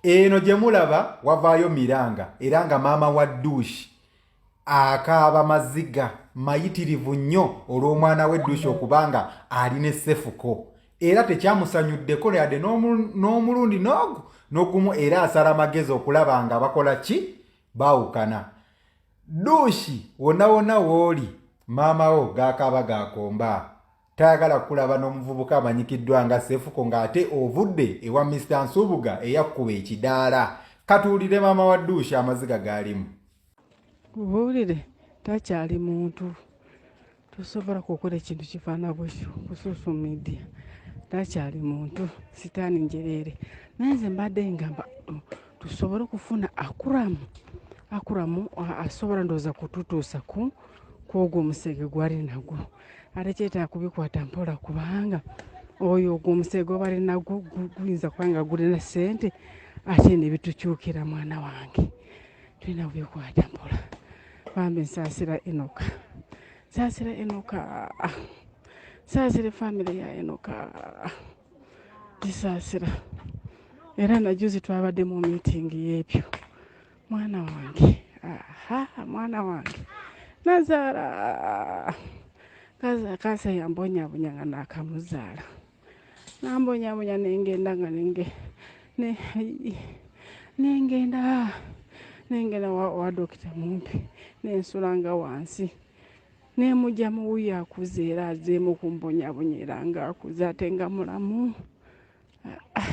eno gye mulaba wavaayo miranga era nga maama wa duushi akaaba maziga mayitirivu nnyo olw'omwana we duushi okuba nga ali ne sefuko era tekyamusanyuddeko yadde n'omulundi n'ogu n'ogumu era asala amagezi okulaba nga bakola ki baawukana duushi wonna wonna wooli maama wo gaakaaba gaakomba Tayagala kukulaba n'omuvubuka amanyikiddwa nga Sefuko ng'ate ovudde ewa Mister Nsubuga eyakkuba ekidaala. Katuwulire maama wa Duushi amaziga gaalimu. Mubuulire takyali muntu tosobola kukola ekintu kifaana bwekyo ku social media. Takyali muntu sitaani njereere. Naye nze mbadde ngamba mm, tusobole okufuna akuramu akuramu asobola ndowooza kututuusa ku kwogwo omusege gwali nagwo. ate kyetaaga kubikwata mpola kubanga oyo ogwo omusege gwaba ali nagwo guyinza kuba nga gulina ssente ate nebitukyukira mwana wange tulina kubikwata mpola bambi nsaasira enoka nsaasira enoka nsaasira efamire ya enoka gisaasira era najuzi twabadde mu miitingi y'ebyo mwana wange aha mwana wange nazaala kaasa yambonyabonya nga nakamuzaala nambonyabonya nengenda nga nenge nengenda nengenda wa dokita mumpi nensulanga wansi nemujja muwuyo akuze era azeemu kumbonyabonya era nga akuze ate nga mulamu ah, ah.